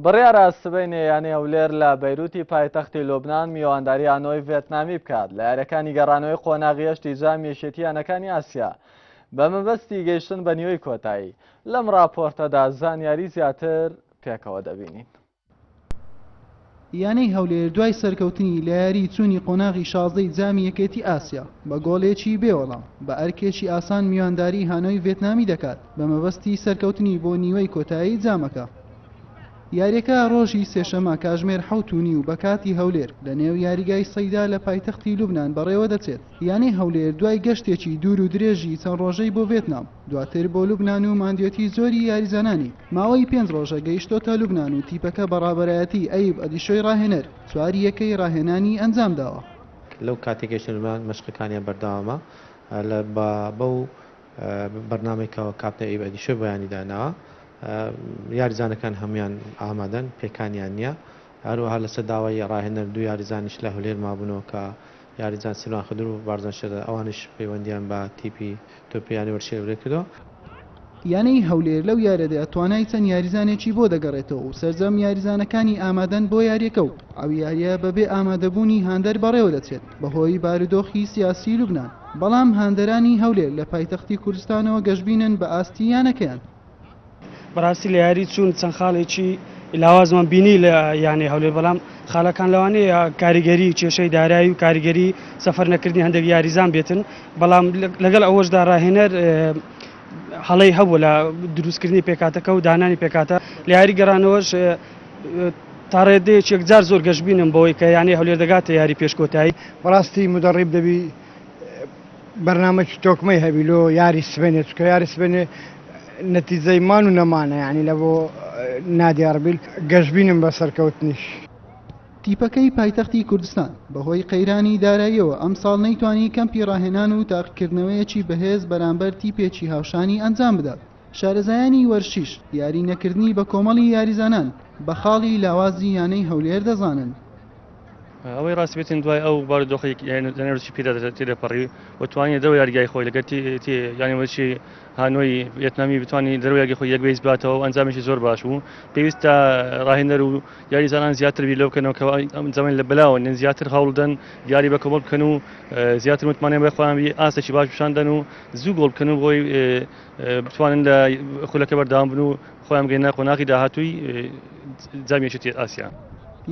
بڕیارە سبەینێ یانەی هەولێر لە بەیروتی پایتەختی لوبنان میوانداری هانۆی ڤێتنامی بکات لە یاریەکانی گەڕانەوەی قۆناغی هەشتی جامی یەکێتی یانەکانی ئاسیا بە مەبەستی گەیشتن بە نیوەی کۆتایی لەم راپۆرتەدا زانیاری زیاتر پێکەوە دەبینین. یانەی هەولێر دوای سەرکەوتنی لە یاریی چوونی قۆناغی شازدەی جامی یەکێتی ئاسیا، بە گۆڵێکی بێ وەڵام، بە ئەرکێکی ئاسان میوانداریی هانۆی ڤێتنامی دەکات، بە مەبەستی سەرکەوتنی بۆ نیوەی کۆتایی جامەکە. یارییەکە رۆژی سێشەممە کاژمێر حەوت و نیو بە کاتی هەولێر، لە نێو یاریگای سەیدا لە پایتەختی لوبنان بەڕێوەدەچێت. یانەی هەولێر دوای گەشتێکی دوور و درێژی چەند رۆژەی بۆ ڤێتنام، دواتر بۆ لوبنان و ماندوێتی زۆری یاریزانانی ماوەی پێنج ڕۆژە گەیشتۆتە لوبنان و تیپەکە بە ڕابەرایەتی ئەیوب ئەدیشۆی ڕاهێنەر چوار یەکەی ڕاهێنانی ئەنجامداوە. لەو کاتەی گەیشتە لوبنان مەشقەکانیان بەردەوامە لە با بەو بەرنامەی کە کاپتن ئەیوب ئەدیشۆی بۆیانی داناوە یاریزانەکان هەموویان ئامادەن پێکانیان نییە هەروەها لەسەر داوای ڕاهێنەر دوو یاریزانیش لە هولێر مابوونەوە کە یاریزان سیروان خدر و بارزان شێرزاد ئەوانیش پەیوەندییان بە تیپی تۆپی یانەی وەرزشی هەولێر کردووە. یانەی هەولێر لەو یارییەدا توانای چەند یاریزانێکی بۆ دەگەڕێتەوە و سەرجەم یاریزانەکانی ئامادەن بۆ یارییەکە و ئەو یارییە بەبێ ئامادەبوونی هاندەر بەڕێوەدەچێت بەهۆی بارودۆخی سیاسی لوبنان، بەڵام هاندەرانی هەولێر لە پایتەختی کوردستانەوە گەشبینن بە ئاستی یانەکەیان. بەڕاستی لە یاری چوون چەند خاڵێکی لاوازمان بینی لە یانەی هەولێر بەڵام خاڵەکان لەوانەیە کاریگەری کێشەی دارایی و کاریگەری سەفەر نەکردنی هەندێک یاریزان بێتن بەڵام لەگەڵ ئەوەشدا ڕاهێنەر هەڵەی هەبوو لە دروستکردنی پێکاتەکە و دانانی پێکاتە لە یاری گەڕانەوەش تا ڕێدەیەک یەکجار زۆر گەشببینم بۆی کە یانەی هەولێر دەگاتە یاری پێشکۆتایی بەڕاستی مدەڕیب دەبی بەرنامەکی تۆکمەی هەبی لۆ یاری سبێنێ چکە یاری سبێنێ نەتیزەی مان و نەمانە ینی لە بۆ نادیاربیل گەشببینم بە سەرکەوتنیش. تیپەکەی پایتەختی کوردستان بەهۆی قەیرانی داراییەوە ئەمساڵ نەیتوانی کەمپی ڕاهێنان و تاقیکردنەوەیەکی بەهێز بەرامبەر تیپێکی هاوشانی ئەنجام بدات، شارەزایانی وەرشیش یاری نەکردنی بەکۆمەڵی یاریزانان بە خاڵی لاوازی یانەی هەولێر دەزانن. ئەوەی ڕاستی بێتین دوای ئەو بارودۆخی نەروچی پیدا تێدەپەڕی و توانانی دەرەوە یاریگای خۆی لەگەر یانەوەچی هانۆی ڤێتنامی بتوانانی دەرەوە یاگی خۆی یەک بەیس باتەوە و ئەنجامێکی زۆر باش بوو پێویستە ڕاهێنەر و یاریزانان زیاتر بیر لەو بکەنەوە کە ئەم زەمن لە بەلاوە نن زیاتر هەوڵدەن یاری بە کۆمەڵ بکەن و زیاتر متمانە بە خۆیان بی ئاستێکی باش پیشاندەن و زوو گۆڵ بکەن و بۆی بتوانن لە خولەکە بەردەوام بن و خۆیان بگەینە قۆناغی داهاتووی جامی یەکێتی ئاسیا.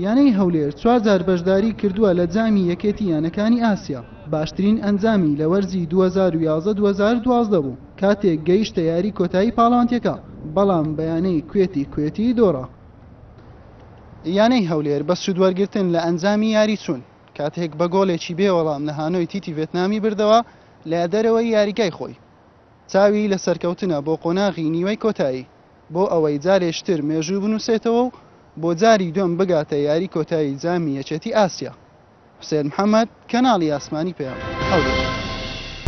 یانەی هەولێر چوار جار بەشداریی کردووە لە جامی یەکێتی یانەکانی ئاسیا، باشترین ئەنجامی لە وەرزی دوو هەزار و یازدە دوو هەزار و دوازدە بوو کاتێک گەیشتە یاریی کۆتایی پاڵەوانتێکە، بەڵام بە یانەی کوێتی کوێتی دۆڕا. یانەی هەولێر بە سوودوەرگرتن لە ئەنجامی یاریی چوون کاتێک بە گۆڵێکی بێ وەڵام لە هانۆی تیتی ڤێتنامی بردەوە لە دەرەوەی یاریگای خۆی، چاوی لە سەرکەوتنە بۆ قۆناغی نیوەی کۆتایی، بۆ ئەوەی جارێشتر مێژوو بنووسێتەوە و بۆ جاری دووەم بگاتە یاری کۆتایی جامی یەکێتی ئاسیا. حوسێن محەمەد، کەناڵی ئاسمانی پەیام، هەولێر.